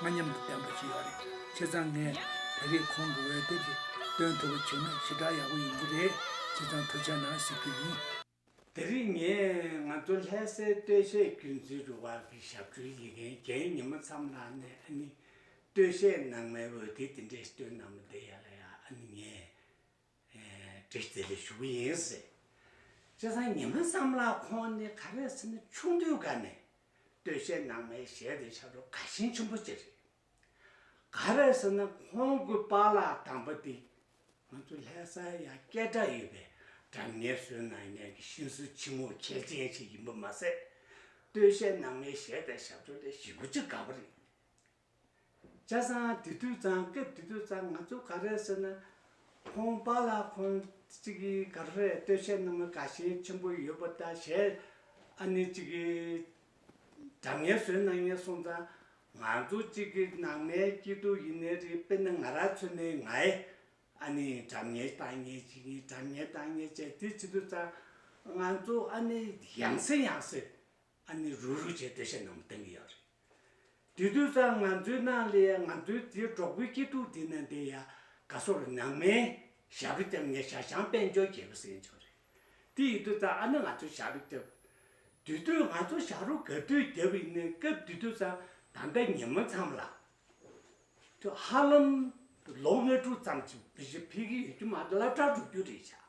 ང་མཉམ་དུ་བསྟན་པ་ཅི་ཡོད་རེད་བྱས་ཙང་ངས་དེ་རིགས་ཁོང་གི་འོས་དེབ་རེ་སྟོན་ཐུབ་པ་བྱས་ན་ཞེ་དྲག་ཡག་པོ་ཡིན་གྱི་རེད་བྱས་ཙང་ཐུགས་ཆགས་ན་གཟིགས་རྒྱུ་ཡིན། དེ་རིང་ངས་ང་ཚོ་ལྷས་སའི་སྟོད་གཞས་རྒྱུན་འཛིན་རུ་དབར་གྱི་ཞབས་བྲོའི་ཡི་གེ་རྒྱའི་ཉི་མ་མཚམས་ལགས་ནས་ཨ་ནི་སྟོད་གཞས་ནང་མའི་འོས་དེབ་དེ་འདྲས་སྟོན་ནམ་བསྡད་ཡ་ལ་ཡ་ཨ་ནི་ངས། འདྲེ་དེ་ལས་བྱུང་བ་ཡིན་སྲིད། སྤྱིར་སང་ཉིན་མོའི་བསམ་བླ་ཁོང་ནི་ག་རེ་ཟེར་ན་ཆུང་དུས་འགའ་ནས་སྟོད་གཞས་ནང་མའི་གཞས་དེ་ཆགས་འགྲོ་དགའ་ཞེན་ཆེན་པོ་གཅིག་རེད། ག་རེ་ཟེར་ན་ཁོང་གི་པཱ་ལགས་དང་པོ་དེ་ང་ཚོ་ལྷས་ས་ཡ་སྐད་གྲགས་ཡོད་པའི་སྒྲ་ངན་བཟོས་ནང་ཉན་གྱི་གཤིན་སུ་ཆེན་མོ་གལ་ཆེན་ཞིག་ཡིན་པ་མ་ཟད། སྟོད་གཞས་ནང་མའི་གཞས་དེ་ཞབས་བྲོ་ལས་ཞིབ་པོ་གཅིག་དགའ་བ་རེད། ལྕགས་ཟངས་དེ་དུས་གཙང་སྐབས་དེ་དུས་གཙང་ང་ཚོ་ག་རེ་ཟེར་ན། ཁོང་པ་ལ་ཁོང་གཅིག་གིས་ག་རེ་རེད་ལྟོས་བཤད་གནང་མི་དགའ་ཞེན་ཆེན་པོ་ཡོད་པ་ལྟ་ཞེ། ཨ་ནེ་གཅིག་གིས་སྒྲ་ངན་ཟོས་གནང་ངན་སོང་ཙང་ང་ཚོ་གཅིག་གི་ནང་མའི་སྐྱིད་སྡུག་ཡིན་ནའི་རེད་དཔེར་ན་ང་རང་ཚོད་ནའི་ང་ཨེ་ཨ་ནེ་སྒྲ་ངན་བཏང་ངན་བྱས་ངན་སྒྲ་ངན་བཏང་ངན་བྱས་དེ་ཚེ་དུས་གཙང་ང་ཚོ་ཨ་ནེ་ཡང་སེ་ཡང་སེ་ཨ་ནི་རུ་རུ་བྱས་བདེ་གཤེགས་རྣམས་བསྟེན་གི་ཡག་རེད། དུས་དུས་སང་ང་ཚོའི་ནང་ལས་ཡ་ང་ཚོའི་དེ་གྲོགས་པོའི་སྐྱིད་སྡུག་དེ་ནང་དེ་ཡ་ག་སོར་ནང་མའི་ཞབས་རི་སྐྱབས་ངས་ཞག་ཞང་དཔལ་འབྱོར་རྒྱལ་པོ་ཟེར་ཡོད་ཆོག་རེད། དེ་ཡི་དུས་སང་ཨ་ནི་ང་ཚོའི་ཞག་རི་སྐྱབས། དུས་དུས་ང་ཚོ་ཞག་རུ་ག་དུས་རྒྱབ་ཡིན་ནའི་སྐབས་དུས་དུས་སང་ད་ལྟ་ཉིན་མོ་མཚམས་ལ། དུས་ཧ་ལམ་ལོ་ལྔ་དྲུག་ཙམ་གྱི་མི་བཞི་འཕེལ་གི་ཡོད་རྒྱུ་མ་རེད་བླ་བྲག་འགྲོ་རྒྱུ་རེད་བྱ།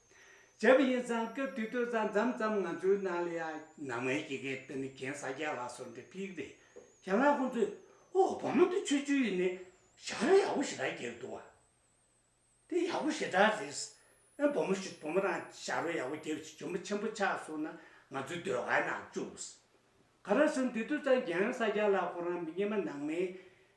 བྱས་པ་ཡིན་ཙང་སྐབས་དེ་དུས་ས་མཚམས་ཙམ་ང་ཚོའི་ནང་ལ་ཡང་ནང་མའི་སྐྱེ་རྒས་དཔེར་ན་གྱེན་ས་རྒྱ་ལགས་སོགས་འདྲེ་ཕིག་རེད། གྱེན་ལགས་ཁོང་ཚོས་ཨོ་བོ་མོ་འདི་ཆོས་བརྒྱུད་ཡིན་ནས་ཞག་ར་ཡག་པོ་ཞེ་དྲག་གྱེར་འདུག་བ། དེ་ཡག་པོ་ཞེ་དྲག་རེད། ཨེ་བོ་མོ་ཞིག་བུ་མོ་རང་ཞག་རོ་ཡག་པོ་གྱེར་བྱས་ཇོ་མོ་ཆེན་པོ་ཆགས་སོང་ན་ང་ཚོའི་སྡོད་ཁང་ནང་བཅུག། ག་ར་སོང་དེ་དུས་ཙང་གྱེན་ས་རྒྱ་ལགས་ཁོ་རང་མི་རྙེད་མ་ནང་མའི་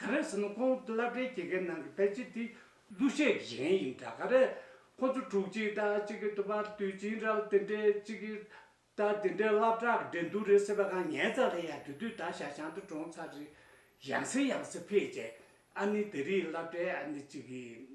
ག་རེ་ཟེར་ན་ཁོང་བླ་བྲེ་རྒྱལ་ཁའི་ནང་གི་ཕལ་ཆེར་དེ་གླུ་གཞས་ཀྱི་གཞན་ཡིན་འདྲ་ག་རེ། ཁོང་ཚོ་དྲུག་ཅིག་རྟ་གཅིག་གི་དུ་བར་དུས་ཅིང་ར་ལ་དེ་འདྲའི་གཅིག་གི་རྟ་དེ་འདྲའི་བླ་བྲག་གི་འགྲན་སྡུར་རེད་ཟེར་བ་གང་ངའི་རྩ་ལྷད་ཡག་དུས་དུས་ད་ཤ་ཞང་དུ་གྲོངས་ཚར་རེད། ཡང་ཟེར་ཡང་ཟེར་ཕལ་ཆེར་ཨ་ནི་དེ་རིགས་བླ་བྲེ་ཨ་ནི་གཅིག་གི།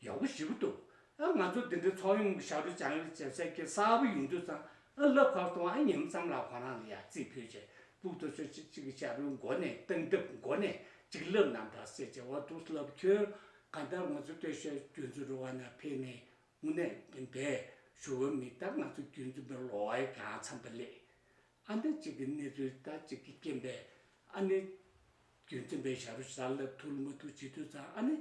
ཡག་པོ་ཞིག་གི་འདུག་ཨ་ང་ཚོ་འདི་འདྲའི་ཚོགས་ཡོངས་ཀྱི་ཞབས་ཞུ་བྱ་ཡུལ་ལྕེབས་ཟེར་གྱི་གསར་བུ་ཡིན་དུས་ཙང་ཨ་སློབ་ཁག་སྟོང་ཨ་ཉིམ་ཙམ་ལ་ཁོ་རང་ལ་ཡར་བརྩིས་ཕུལ་ཆེད་སྤུག་ཏུ་ཚོད་ཅིག་ཅིག་གི་ཞབས་ཞུའི་མགོ་ནས་སྟངས་སྟབས་མགོ་ནས་ཅིག་སློབ་རྣམས་འདྲ་སེ་ཅེ་བོ་འདུག་སློབ་ཁྱོད་ག་ལྟར་ང་ཚོ་སྟོད་ཤར་རྒྱུན་འཛིན་རུ་བ་ན་ཕེབས་ནས་དངོས་གནས་འདི་འདྲའི་ཞུ་བ་མི་ལྟར་ང་ཚོ་རྒྱུན་འཛིན་པའི་ལོ་བ་ཡང་འཚམས་པ་ལེགས། ཨ་མདའ་གཅིག་གི་གནས་ཚུལ་ཟླ་གཅིག་གི་རྐྱེན་པས་ཨ་ནེ། རྒྱུན་འཛིན་པའི་ཞབས་རུ་ཟར་ལ་ཐུག་མ་ཐུག་བྱེད་དུས་ཙང་ཨ་ནེ།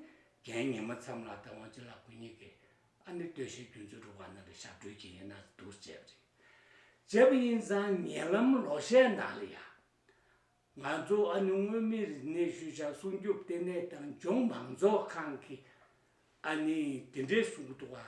རྒན་ངེད་མ་མཚམས་ལགས་ད་ཝང་ཅི་ལ་གོ་ཉེས་ཀི། ཨ་ནེ་ལྟོས་ཤིག་རྒྱུན་འཛིན་རུ་བ་ནང་གི་ཞབས་བྲོའི་རྐྱེན་ཡིན་ན་འདུག་བྱས་པ་རེད། བྱས་པ་ཡིན་ཙང་ཉེ་ལམ་ལོ་ཤས་ནང་ལ་ཡང། ང་ཚོ་ཨ་ནེ་མངོན་མིན་རིག་གནས་ཤུལ་བཞག་སྲུང་སྐྱོབ་ལྟེ་གནས་དང་ལྗོངས་མང་ཚོགས་ཁང་གིས། ཨ་ནེ། དེ་འདྲའི་གསུང་གི་ཐོག་ཨ།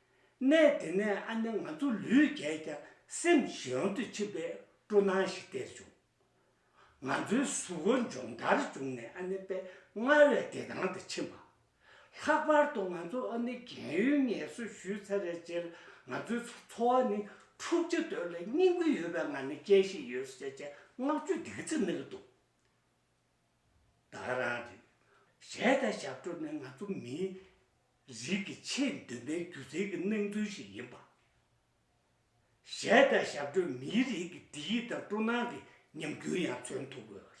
གནས་དེ་ནས་ཨ་ནེ་ང་ཚོ་ལུས་རྒྱས་ཀྱང་སེམས་གཞན་དུ་ཕྱིན་པའི་སྤྲོ་སྣང་ཞིག་སྟེར་བྱུང། ང་ཚོའི་གཟུགས་པོ་འབྱོངས་འདར་བྱུང་ནས་ཨ་ནེ་པད་མངའ་བའི་བདེ་ཐང་དུ་ཕྱིན་པ། ལྷག་པར་དུ་ང་ཚོ་ཨ་ནེ་རྒན་ཡོལ་ངལ་གསོ་ཞུས་ཚར་བའི་རྗེས་ང་ཚོའི་འཚོ་བ་ནི་འཁྲུག་ཆ་དོད་ལ་སྙིང་རུས་ཡོད་པའི་ངང་ནས་སྐྱེལ་བཞིན་ཡོད་ཟེར་བཅས་བསྔགས་བརྗོད་འདི་ག་ཚོད་མེད་ལ་འདུག། བདག་རང་རེད། གཞས་དང་ཞབས་བྲོ་ནི་ང་ཚོ་མིའི་རིགས་ཀྱི་ཆེས་མདུན་པའི་སྒྱུ་རྩལ་གྱི་སྣང་ཚུལ་ཞིག་ཡིན་པ། གཞས་དང་ཞབས་བྲོས་མིའི་རིགས་ཀྱི་སྒྲིག་ཡིག་དང་སྤྲོ་སྣང་གི་ཉམས་འགྱུར་ཡང་མཚོན་ཐུབ་དགོས་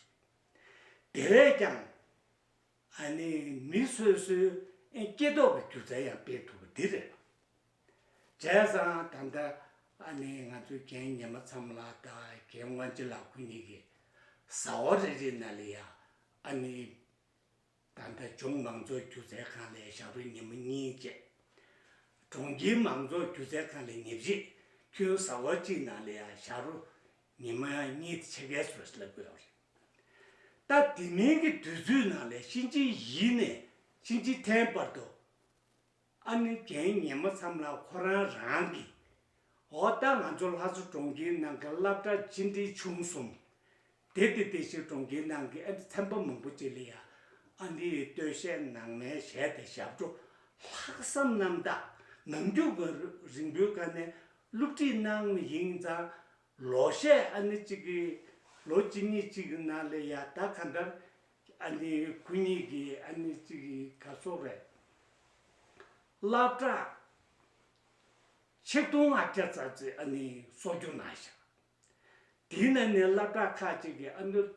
པ་རེད། དེ་བས་ཀྱང། ཨ་ནི་མི་སོ་སོའི་སྐྱེས་སྟོབས་ཀྱི་སྒྱུ་རྩལ་ཡང་སྤེལ་ཐུབ་པ་འདི་རེད། བྱས་ཙང་ད་ལྟ་ཨ་ནེ་ང་ཚོའི་རྒན་ཉི་མ་ཚང་ལ་ད་རྒན་དབང་ཆེ་ལགས་ཁོ་གཉིས་ཀྱི་ཟ་བ་རེ་རེ་ན་ལས་ཡག་ཨ་ནེ། ད་ལྟ་ལྗོངས་མང་ཚོགས་སྒྱུ་རྩལ་ཁང་ལས་ཞབས་རོལ་ཉི་མ་གཉིས་བཅས། གྲོང་ཁྱེར་མང་ཚོགས་སྒྱུ་རྩལ་ཁང་ལས་ཉེར་བཞི། ཁྱོའི་ཟ་བ་གཅིག་ན་ལས་ཡག་ཞབས་རོལ་ཉི་མ་གཉིས་དེ་ཕྱེད་ཀས་ཟོས་སླེབས་དགོས་ཡག་རེད། ད་དེ་མིན་གྱི་དུས་ཚོད་ན་ལས་གཤིན་རྗེའི་གཞིས་ནས་གཤིན་རྗེའི་ཐེན་བར་དུ། ཨ་ནེ་རྒན་ངེད་མ་ཚམ་ལ་ཁོ་རང་རང་གིས། འོ་ད་ང་ཚོ་ལྷ་མཚོ་གྲོང་ཁྱེར་ནང་གི་སླབ་གྲ་ཅི་འདྲའི་ཆུང་སོང། དེ་དེ་དེ་ཞིག་གྲོང་ཁྱེར་ནང་གི་ཨ་ནེ་ཚན་པ་མང་པོ་ཅིག་ལ་ཡ་ཨ་ནེ་ཡི་སྟོད་གཞས་ནང་མའི་གཞས་དེ་ཞབས་བྲོ་ལྷག་བསམ་རྣམ་དག་ནང་རྒྱུག་པའི་རིང་པོའི་སྐབས་ནས་སླུ་བྲིད་གནང་མི་ཡིན་ཙང། ལོ་ཤས་ཨ་ནེ་གཅིག་གིས་ལོ་གཅིག་གཉིས་གཅིག་གི་ནང་ལ་ཡ་ད་ག་འདྲར་ཨ་ནེ་སྐུ་ཉིད་ཀྱིས་ཨ་ནེ་གཅིག་གི་ག་ཚོད་རེད། སླར་བཀྲ། ཆིག་སྟོང་ལྔ་བརྒྱ་རྩ་བརྩིས་ཨ་ནེའི་གསོ་རྒྱུ་གནང་བཞག། དེའི་ནང་ནས་སླར་བཀྲ་ཁ་ཅིག་གིས་ཨ་ནེར་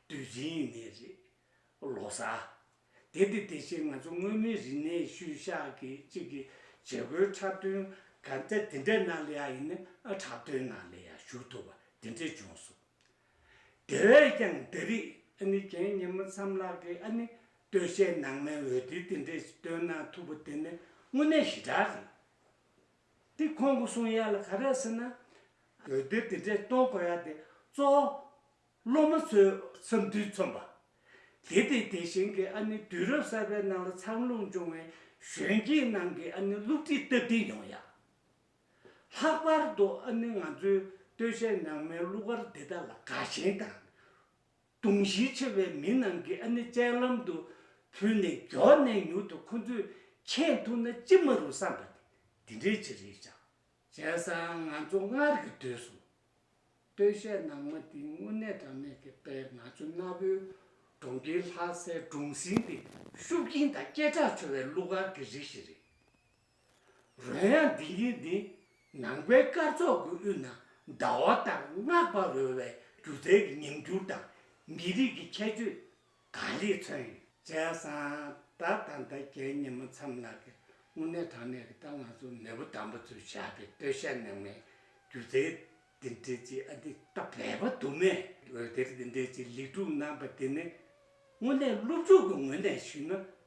དུས་རིང་ནས་རེད། ལོ་གསར། དེ་དེ་དེ་བཞིན་ང་ཚོ་སྔོན་མའི་རིག་གནས་ཤུལ་བཞག་གི་ཅིག་གི་བྱེད་སྒོའི་འཁྲབ་སྟོན་གང་ཚད་དེ་འདྲའི་ནང་ལ་ཡང་ཨ་ནེ་འཁྲབ་སྟོན་ནང་ལ་ཡང་ཞུགས་ཐུབ་པ་དེ་འདྲས་བྱུང་སོང། དེ་བས་ཀྱང་འདི་རིགས་ཨ་ནི་གྱེན་ཉིན་མོ་མཚམས་ལག་གི་ཨ་ནི་སྟོད་གཞས་ནང་མའི་འོད་སྡེར་དེ་འདྲས་ཤིག་བཏོན་ན་ཐུབ་པོ་དེ་ནི་དངོས་གནས་ཞི་དྲག་རེད། དེ་ཁོང་གི་གསུང་ཡག་ལ་ག་རེ་ཟེར་ན། འོད་སྡེར་དེ་འདྲས་གཏོང་དགོས་ཡག་དེ་གཙོ་བོ་སློབ་མ་ཚོའི་འཚམས་འདྲིར་མཚོན་པ། དེ་དེ་དེ་བཞིན་གྱི་ཨ་ནི་དུས་རབས་གསར་པའི་ནང་ལ་འཚར་ལོངས་བྱུང་བའི་གཞོན་སྐྱེས་རྣམས་ཀྱི་ཨ་ནི་བསླུ་བྲིད་སྟབས་བདེ་ཡོང་ཡག། ལྷག་པར་དུ་ཨ་ནི་ང་ཚོའི་སྟོད་གཞས་ནང་མའི་གླུ་གར་འདི་དག་ལ་དགའ་ཞེན་དང། དུང་གཞི་ཆེ་བའི་མི་རྣམས་ཀྱིས་ཨ་ནི་སྤྱན་ལམ་དུ་ཕུལ་ནས་མགྱོགས་ནས་མྱུར་དུ་ཁོ་ཚོས་མཁྱེན་ཐུབ་ན་ཅི་མ་རུང་བསམ་པ་དེ་འདྲའི་ཆེད་རེད་ཅག། བྱས་ཙང་ང་ཚོ་སྔར་གྱི་དུས་སུ། སྟོད་གཞས་ནང་མ་འདི་དངོས་གནས་གྲངས་མེད་ཀྱི་དཔལ་ང་ཚོ་གནའ་བོའི་གྲོང་ཁྱེར་ལྷ་སའི་གྲོང་གསེང་དེ་ཤུགས་རྐྱེན་དང་སྐད་གྲགས་ཆེ་བའི་གླུ་གར་གྱི་རིགས་ཤིག་རེད། རོལ་དབྱངས་འདི་ཉིད་ནི་ནང་པའི་སྐར་ཚོགས་ཀྱི་དབུས་ན་ཟླ་བ་ལྟར་སྔགས་པ་རོལ་བའི་སྒྱུ་རྩལ་གྱི་ཉམས་འགྱུར་དང་མི་རིགས་ཀྱི་ཁྱད་ཆོས་གང་ལེགས་མཚོན་ཡོད། བྱས་ཙང་ད་ལྟ་ཟླ་བརྒྱད་ཉིན་མོ་མཚམས་ལགས་ཀྱི་དངོས་གནས་དྲང་གནས་ཀྱི་ད་ང་ཚོ་མེས་པོ་དམ་པ་ཚོས་བྱས་པའི་སྟོད་གཞས་ནང་མའི་སྒྱུ་རྩལ་འདི་འདྲའི་གཅིག་ཨ་འདི་ད་བས་པ་དུ་མས་འོད་སྡེར་འདི་འདྲའི་གཅིག་ལེགས་གྲུབ་གནང་པ་འདི་ནི་དངོས་གནས་སློབ་ཕྲུག་གི་ངོས་ནས་ཞུས་ན་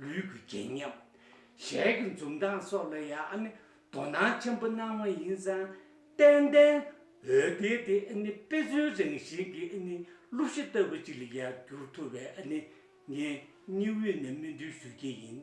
ལུས་ཀྱི་སྐྱེ་ཉམས། ཞལ་གྱི་འཛུམ་མདངས་སོགས་ལ་ཡང་དོ་སྣང་ཆེན་པོ་གནང་བ་ཡིན་ཙང། ཏན་ཏན་འོད་སྡེར་དེ་དཔེ་མཚོན་རང་བཞིན་གྱི་གླུ་གཞི་ལྟ་བུ་ཅིག་ལ་ཡང་འགྱུར་ཐུབ་པས་ངས་སྙིང་དབུས་ནས་སྨོན་འདུན་ཞུ་རྒྱུ་ཡིན།